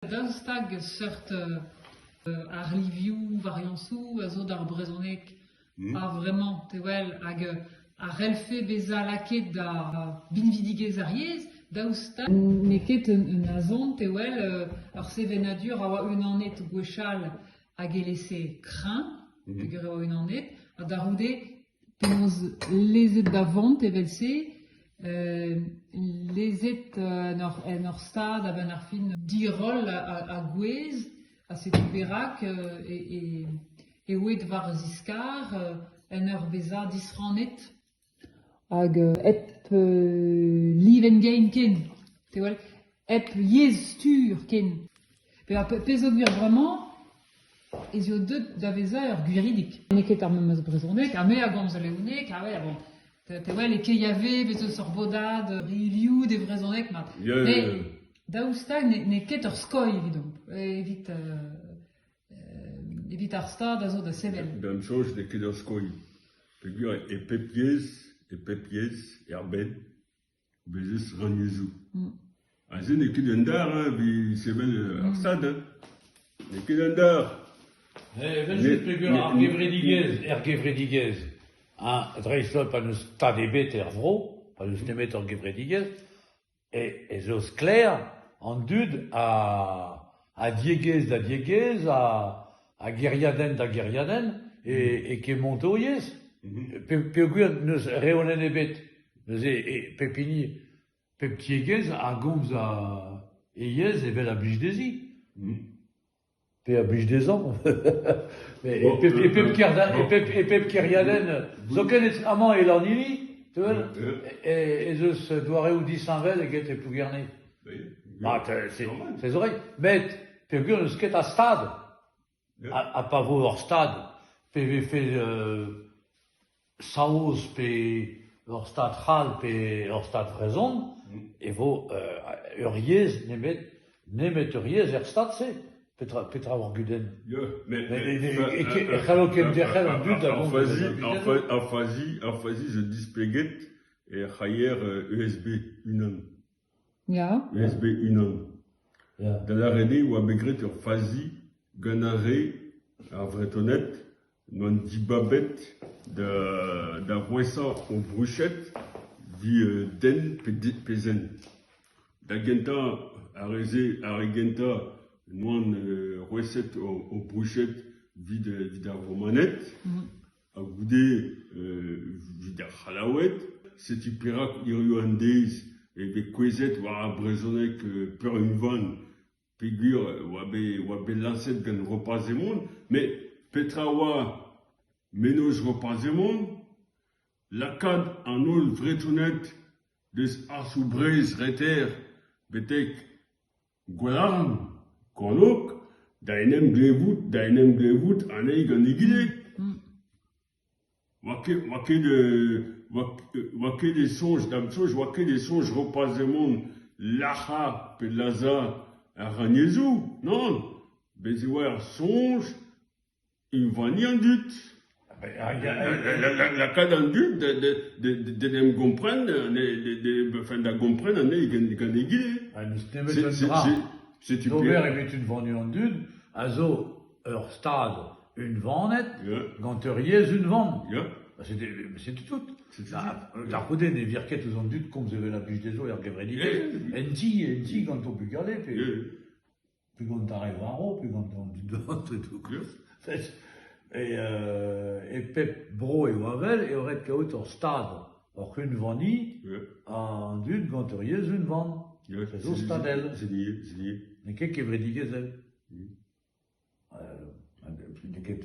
Daou stag seurt arlivioù, variañsoù a zo d'ar brezhoneg. Hmm. Ha vraiment, te wel, hag a c'hellfe bezañ lakaet da binvidigezh ar yezh, daoust ha n'eo ket un azont e wel euh, ur sevenadur a oa unanet gwechall hag e lese kreñv, mhm. peger e oa unanet, ha da c'houde Penaos lezet da vont evel-se, lezet en ur stad a-benn ar fin diroll a-gouez ha setu perak e oed war ziskar en ur vezañ disrannet hag hep livenn gein ken. Te 'wel. hep yezh stur ken. Pe ar pezh zo gwir bremañ ez eo deuet da vezañ ur gwiridig. N'eo ket ar memes brezhoneg, ha me a gomz leoneg, ha well, bon, te wel e Keiave bez eus ur bodad review de vrezhoneg mat. Yeah. Mais daoust hag n'eo ket ur skoilh evidomp, evit euh, evit ar stad a zo da sevel. D'am soñj n'eo ket ur skoilh. Peogwir e pep yezh, e pep yezh, er bed, Bez' ez eus rannyezhoù. Ha se n'eo ket un dar hein, evit sevel ar Stad hein. N'eo ket un dar. Evel-just peger ar gevredigezh, er gevredigezh, ha dreist-holl pa n'eus stad ebet er vro, pa n'eus nemet ur gevredigezh, ez eo sklaer an dud a diegezh da diegezh, a gêriadenn da gêriadenn, e, e Kemontouriez, peogwir n'eus reolenn ebet, neuze e pep hini, pep tiegezh a gomz a, e yezh evel a blij dezhi. Pe a blij dezhañ. et, pep, et, pep et, pep, et pep kêriadenn, zoken amañ e Lannili, tu ez eus doareoù disheñvel eget e Plougerne. Ma, se zo ret, met peogwir n'eus ket a stad, ha pa vo ur stad, pe vefe saoz pe ur stad c'hall pe ur stad vrezhon, e vo ur yezh nemet nemet ur yezh er stad-se. Petra, petra ur gudenn Met e c'hallo kenderc'hel an dud da vont Ar fazi, ar fazi zo displeget er c'haier USB unan. Ya. Mes bet unan. Da lâret eo e oa bet graet ur fazi gant ar re, ar Vretoned, n'oant dibabet da da roesañ o vruched den pe zen. Da gentañ, ar re-se, ar re gentañ n'oant roeset o o bruched evit evit ar Romaned. Ha goude evit ar C'hallaoued, setu perak hiziv an deiz eo bet kouezhet war ar brezhoneg peurunvan peogwir e oa bet lañset gant Roparz Emon. Met petra a oa mennozh Roparz Emon ? Lakaat an holl Vretoned deus arzoù Breizh reter betek Gwerann, kornôg, da en em glevout da en em glevout anezhi gant egile ? Oa ket oa ket oa ket e soñj da'm soñj oa ket e soñj Roparz Hemon lac'hañ pe lazhañ ar rannyezhoù, nann ? Bez' e oa ur soñj. Unvaniañ dud, lakaat an dud d'en em gompren, enfin da gompren anezhi gant egile. Setu D'ober evit unvaniañ an dud a zo ur stad unvanet gant ur yezh unvan. Setu tout. Da c'houde ne vir ket ouzh an dud komz evel a blij dezho er gevredidezh. En ti, en ti, gant o bugale pe... Pe gant ar re varv, pe gant an dud vat e tou kleuz. E e pep bro eo avel eo ret kaout ur stad, oc'h unvaniñ an dud gant ur yezh unvan. A zo stadel. C'est lié, c'est lié. N'eo ket kevredigezhel. N'eo ket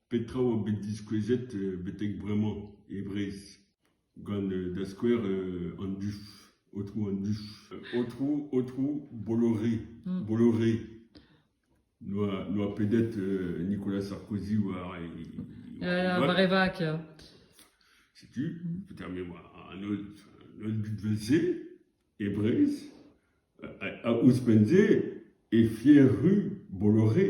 Petra oa bet diskouezet betek bremañ e Breizh gant da skouer an duf, aotrou an duf, aotrou aotrou Bolloré, Bolloré n'oa n'oa pedet Nicolas Sarkozy war e war e vak ya. Setu petra me oa an holl an holl dud evel-se e Breizh a a ouzhpenn-se e fier ru Bolloré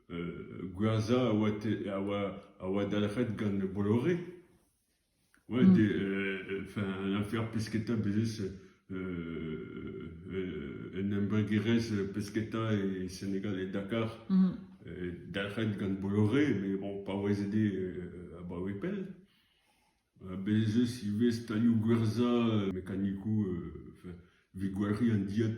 Gwazh a oa a oa dalc'het gant Bolloré. Ouais enfin un afer pesketa bez eus un embregerezh pesketa e Senegal e Dakar dalc'het gant Bolloré met bon paouezet eo abaoe pell. Bez ez eus ivez stalioù gwerzhañ mekanikoù evit gwalc'hiñ an dilhad.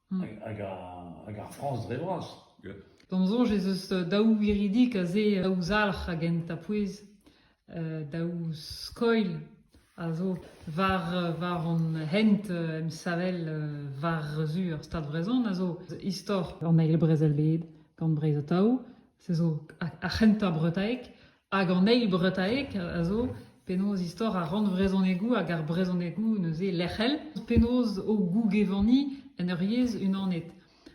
Hag ar Frañs dre vras. D'am soñj ez eus daou wiridik aze, daou zalc'h a genta pouez, daou skoilh a zo war war hon hent emsavel war-zu ar Stad Vrezhon a zo istor an eil brezel-bed gant Breizh Atao. Se zo ar c'hentañ bretaeg. Hag an eil bretaeg a zo penaos istor ar rannvrezhonegoù hag ar brezhonegoù neuze lec'hel, penaos o gougevaniñ en ur yezh unanet.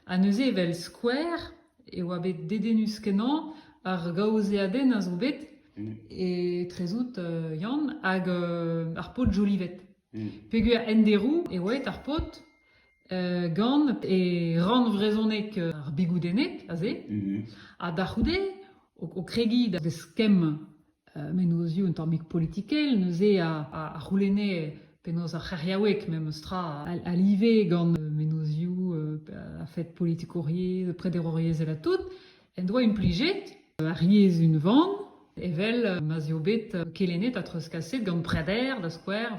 Ha neuze evel skouer e oa bet dedennus-kenañ ar gaozeadenn a zo bet, etrezout Yann, hag ar paotr Jolivet. Peogwir en deroù eo aet ar paotr gant e rann vrezhonek ar bigoudenneg aze, ha da c'houde, o kregiñ da vez kemm mennozioù un tammig politikel, neuze a c'houlenne penaos ar c'heriaoueg memes tra a live gant mennozioù a-fed politikouriezh, prederouriezh, evel tout. en doa implijet ar yezh unvan evel ma'z eo bet kelennet ha treuzkaset gant preder da skouer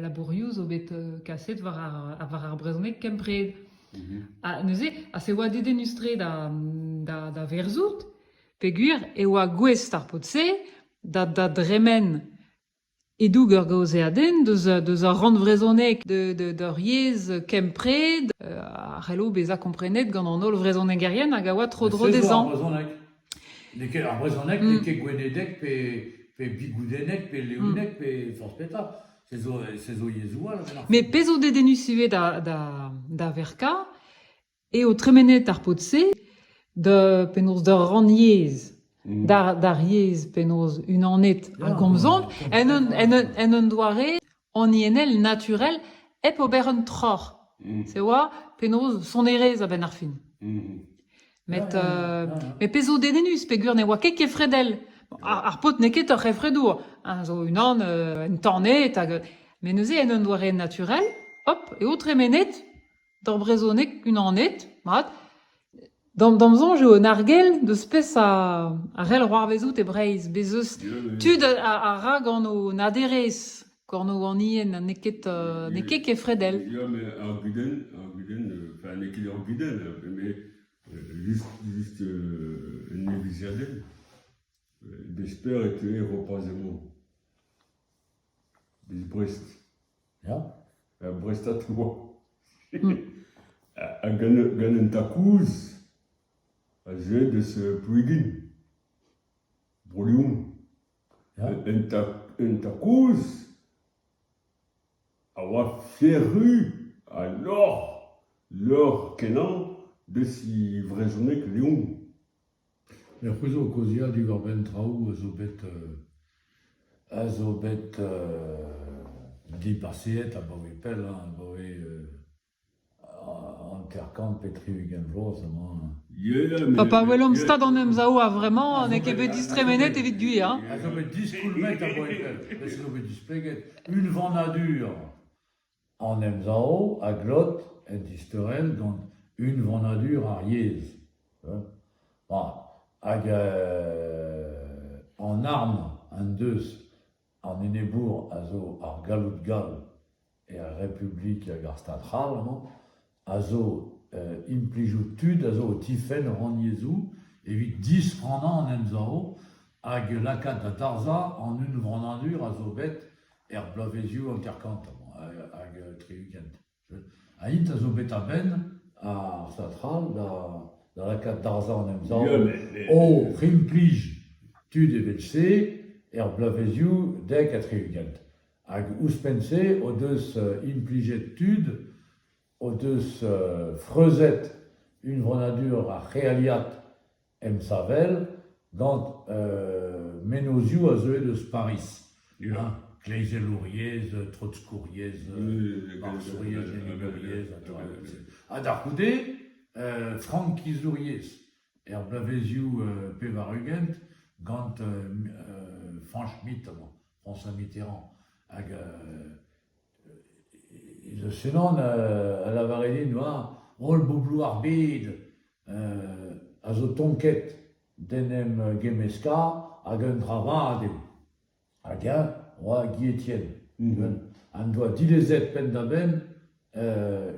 labourioù zo bet kaset war ar, war ar brezhoneg kempred. Mhm. Ha neuze, ha se oa dedennus-tre da, da, da verzout, peogwir e oa gouest ar pod-se da, da dremen E-doug ur gaozeadenn deus ar rann vrezhonek d'hor yezh kempred a c'hello bezañ komprenet gant an holl vrezhonegerien hag a oa tro-dro dezhañ. Ar brezhoneg n'eo ket gwenedek pe bigoudennek pe leoneg pe forzh petra. Se zo yezhoù all. Met pezh zo dedennus ivez da verkañ eo tremenet ar paotr-se da penaos d'ur rannyezh, d'ar d'ar yezh penaos unanet a gomzont en un en un en un doare haniennel naturel hep ober un troc'h, c'est oa penaos sonerezh a-benn ar fin. Met euh, met pezh zo dedennus peogwir ne oa ket kefredel. Ar, ar paotr n'eo ket ur c'hefredour, hein, zo unan euh, entanet hag met neuze en un doare naturel, hop, eo tremenet D'ar brezhoneg, unanet, mat. D'am da'm soñj eo un argell deus peseurt a c'hell c'hoarvezout e Breizh. Bez' eus tud a a ra gant o naderezh, gant o anien ha n'eo ket n'eo ket kefredel. Ya, met ar gudenn ar gudenn enfin n'eo ket ur gudenn met just just un neveziadenn. D'esper e teue Roparz Hemon. Biz Brest. Ya, ur brestad oa ha gant gant un takouz a zeu deus Plouigin, Bro-Lion. Ya. Un tak un takouz a oa flerru ha lorc'h lorc'h kenañ deus he vrezhoneg Leon. Ne c'houzo kaozeadur a-benn traoù a zo bet a zo bet dibaseet abaoe pell hein abaoe hanter-kant pe tri-ugent vloaz amañ hein. Ha pa welomp stad an emsav a-vremañ n'eo ket bet distremenet evit gwir hein. A zo bet diskolvet abaoe pell, met se zo bet displeget unvanadur. An emsav a glot en disteurel gant unvanadur ar yezh hag an arm en deus an enebour a zo ar galloud gall er Republik hag ar Stad c'hall amañ. a zo implijout tud a zo o tifenn o rannyezhoù evit disfrannañ an emsav hag lakaat da darzhañ an unvanadur a zo bet er bloavezioù hanter-kant hag tri-ugent. Ha int a zo bet a-benn ar satrall da lakaat darzhañ an emsav oc'h implij tud evel-se er bloavezioù dek ha tri-ugent. Hag ouzhpenn-se o deus implijet tud o deus freuzet unvanadur ar c'healiad emsavel gant mennozhioù a zeue eus Pariz. Ya, kleizelouriezh, treuzkouriezh, arzouriezh, lennouriezh, an taolioù-se. Ha da c'houde frankizouriezh er bloavezioù pevar-ugent gant Frank Schmidt amañ. François Mitterrand, hag e eus Senan a lavare din, oa, holl boblou ar bed a zo tonket d'en em gemmeska, hag eun dra vat eo. Hag eñ oa Guy Etienne, uhel, en doa dilezet penn-da-benn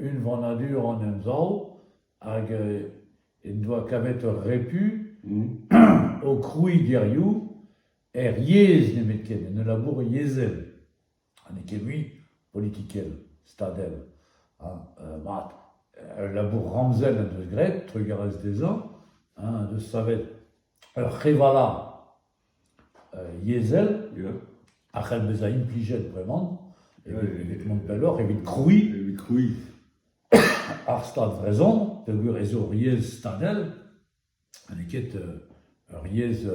unvanadur an Emsav, hag en doa kavet eur repu o kroui geriou er yezh nemetken, en ul labour yezhel, ha n'eo ket mui politikel, stadel, ha euh, mat, ul labour ramzel en deus graet, trugarez dezhañ, hein, en deus savet ur c'hevala euh, yezhel, a c'hell bezañ implijet bremañ, evit mont pelloc'h, evit krouiñ evit krouiñ ar Stad vrezhon, peogwir ez eo yezh stadel, Ha n'eo ket ur yezh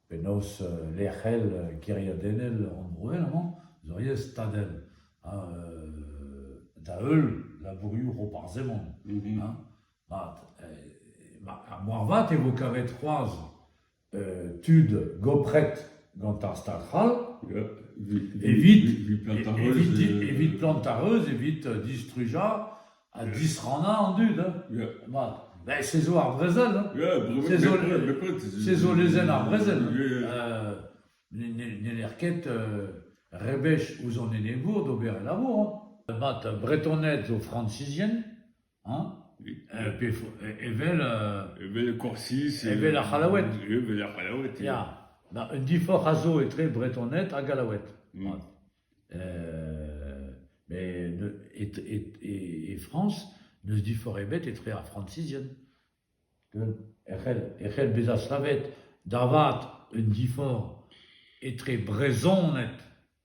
penaos lec'hel geriadennel rannvroel amañ zo ur yezh stadel ha da-heul labourioù Roparz Hemon mat. Ha moarvat e vo kavet c'hoazh tud gopret gant ar Stad c'hall evit plant ar reuz evit distrujañ ha disrannañ an dud mat ben se zo ar brezel se zo lezenn ar brezel n'heller ket rebech ouzh an enebour d'ober e labour mat bretoned zo francisien Hañ ? Evel... Evel Korsiz... Evel ar C'hallaoued. Evel ar C'hallaoued, ya. Ya, ma un diforc'h a zo etre Bretoned ha Gallaoued. Mat. Mais e Frañs n'eus diforc'h ebet etre ar Frañsizien. E c'hell bezañ savet da vat un diforc'h etre Brezhoned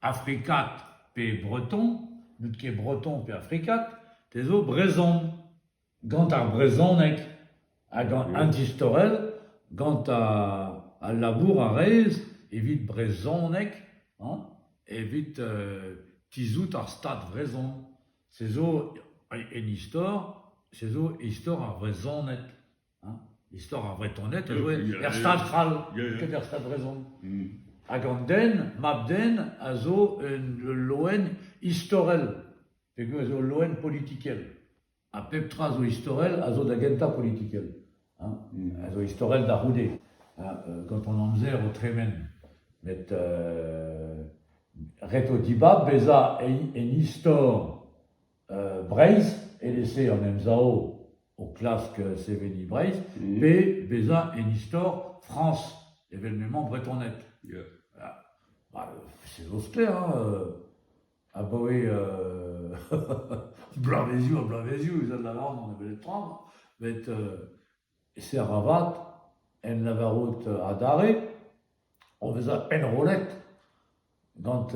Afrikat pe breton n'out ket breton pe afrikat te zo brezhon gant ar brezhoneg ha gant un distorell gant al labour a rez evit brezhoneg hañ evit tizhout ar stad vrezhon se zo en istor se zo istor ar vrezhoned. Istor ar Vretoned a zoe er stad c'hall, ket er stad vrezhon. Hag an den, mab-den, a zo un ul loen istorel, pegoulz eo loen politikel. Ha pep tra zo istorel a zo da gentañ politikel. Hein a zo istorel da c'houde, hein euh, gant an amzer o tremen. Met euh, ret eo dibab bezañ en, en istor. Breizh evel-se an Emsav o klask seveniñ Breizh pe bezañ en istor Frañs evel m'emañ bretoned. Se zo sklaer hein, abaoe bloavezioù ha bloavezioù ez a da varn on a belec'h tra met E-ser avat, en lavarout adarre, o vezañ pennrollet gant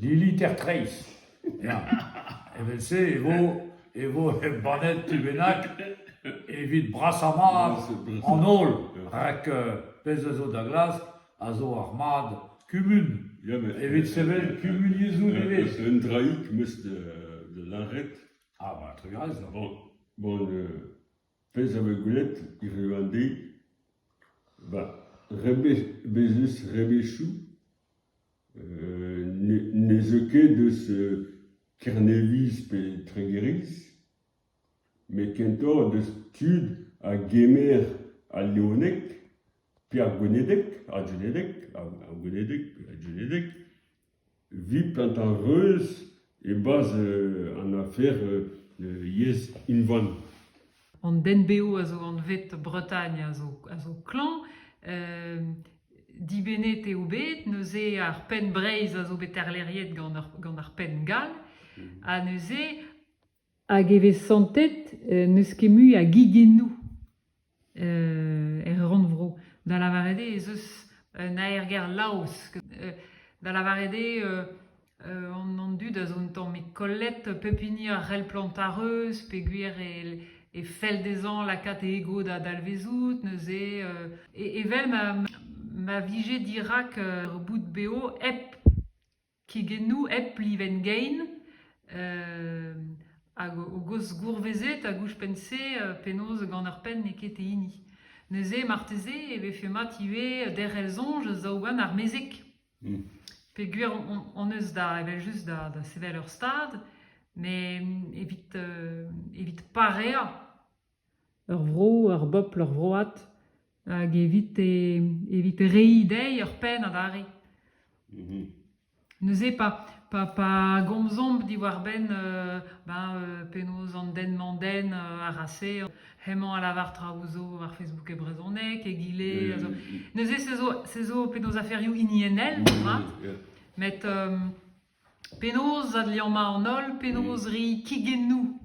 Lili Tertrais. Ya, evel-se e vo e vo embannet tu bennak evit brasañ-mat an holl, rak pezh a zo da glask a zo ar mad kumun, evit sevel kumuniezhoù nevez. Un draig 'm eus da lâret. Ah, ben, trugarez deoc'h. Bon, bon, Pezh a vez gwelet hiziv an deiz bah rebezus rebechoù ne zeu ket eus Kerneviz pe Tregeriz met kentoc'h deus tud a gemer al leoneg pe ar gwenedeg ar gwenedeg ar gwenedeg pe ar gwenedeg. Viplat ar reuz e-barzh an afer yezh unvan. An den-bev a zo anvet Bretagne a zo a zo klañv. Dibennet eo bet neuze ar penn Breizh a zo bet arleriet gant ar gant ar penn gall. Ha neuze Hag e vez santet n'eus ket mui a gigennoù er rannvro. Da lavaret eo ez eus un aergelc'h laosk. Da lavaret eo an dud a zo un tammig kollet pep hini a c'hell plantañ ar reuz peogwir e fell dezhañ lakaat e ego da dalvezout neuze. Evel ma vije dirak ur boud bev hep kegennoù hep livenn-gein hag hogos gourvezet hag ouzhpenn-se penaos gant ur penn n'eo ket e hini. Neuze marteze e vefe mat ivez derc'hel soñj zaou gant ar mezeg. Peogwir hon eus da evel-just da sevel ur stad met evit evit pareañ Ur vro, ur bobl, ur vroad hag evite evit reiñ dezhi ur penn adarre. Neuze pa pa pa gomzomp diwar-benn ben penaos an den-mañ-den a ra se hemañ a lavar traoù zo war Facebook e brezhoneg, egile a zo... Neuze se zo se zo penaos aferioù hiniennel mat met Penaos adliammañ an holl, penaos reiñ kigennoù,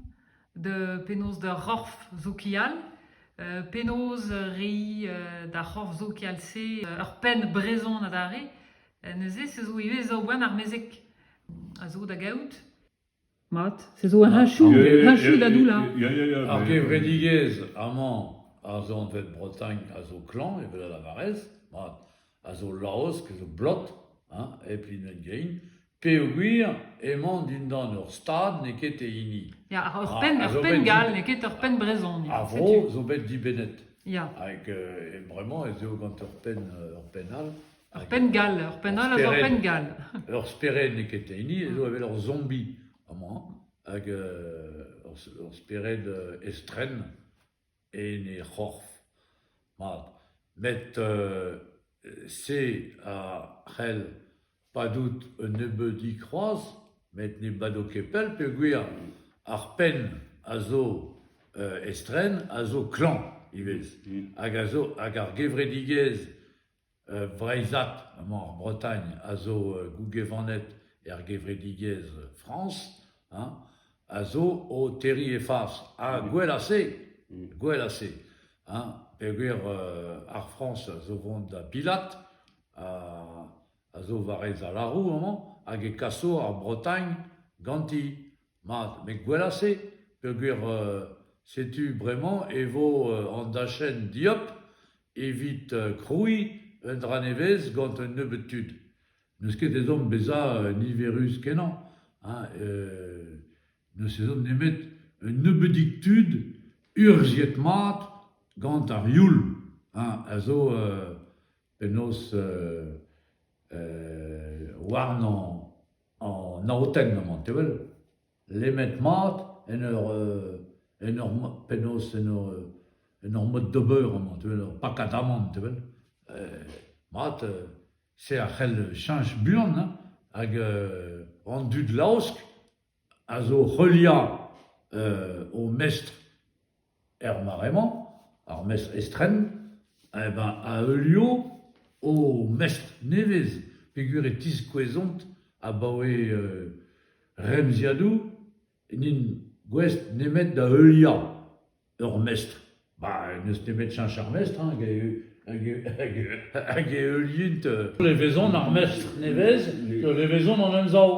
penaos d'ur c'horf sokial, penaos reiñ d'ar c'horf sokial-se ur penn brezhon adarre, neuze se zo ivez zaou boent armezek a zo da gaout. Mat, se zo un achu, un achu da doullañ. Ya, ya, ya. Ar gevredigezh amañ, ar zornvet Bretagne, a zo klañv, evel a lavarez, mat, a zo laosk, a zo blot, hein, hep hennezh gein, peogwir emañ dindan ur stad n'eo ket e hini. Ya, ur Ah, penn, a ur zo penn bet gall, dit- n'eo ket ur penn brezhon. ya, Ar setu. vro zo bet dibennet. Ya, Hag euh, et vraiment ez eo gant ur penn, euh, ur penn all, Ur penn-gall, ur penn all hag ur penn-gall. Ur spered n'eo ket hini zo evel ur zombi amañ hag ur ur spered estren en he c'horf mat. Met se a c'hell padout un nebeudig c'hoazh met ne bado ket pell peogwir ar penn a zo estren a zo klañv ivez hag a zo hag ar gevredigezh Vreizhat emañ ar Bretagne a zo gougevaned er gevredigezh Frañs hein a zo o terriñ he fas ha gwell a-se gwell a-se hein peogwir ar Frañs a zo vont da bilat a zo war he zalaroù amañ hag e kaso ar Bretagne ganti mat met gwell a-se peogwir setu bremañ e vo an dachenn dieub Evit krouiñ un dra nevez gant un nebeud tud. N'eus ket ezhomm bezañ niverus-kenañ ha n'eus ezhomm nemet un nebeudig tud urzhiet-mat gant ar youl a zo penaos warnañ an aotenn amañ, te wel. lemmet-mat en ur en ur penaos en ur en ur mod d'ober amañ te wel ur pakad amann te wel mat se a c'hell cheñch buan hein hag an dud laosk a zo heuliañ o mestr Er mare-mañ, ar mestr estren, eñ beñ a heulio o mestr nevez peogwir e tiskouezont abaoe remziadoù n'int gouest nemet da heuliañ ur mestr. Bah n'eus nemet cheñch ar mestr hag e heulient levezon ar mestr nevez, levezon an emsav.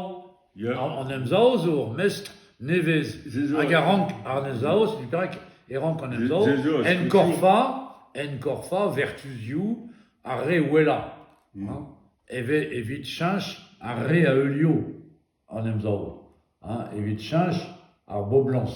An Emsav zo ur mestr nevez hag a rank an Emsav, setu perak e rank an Emsav enkorfañ enkorfañ vertuzioù ar re wellañ, evit cheñch ar re a heulio an Emsav, evit cheñch ar boblañs.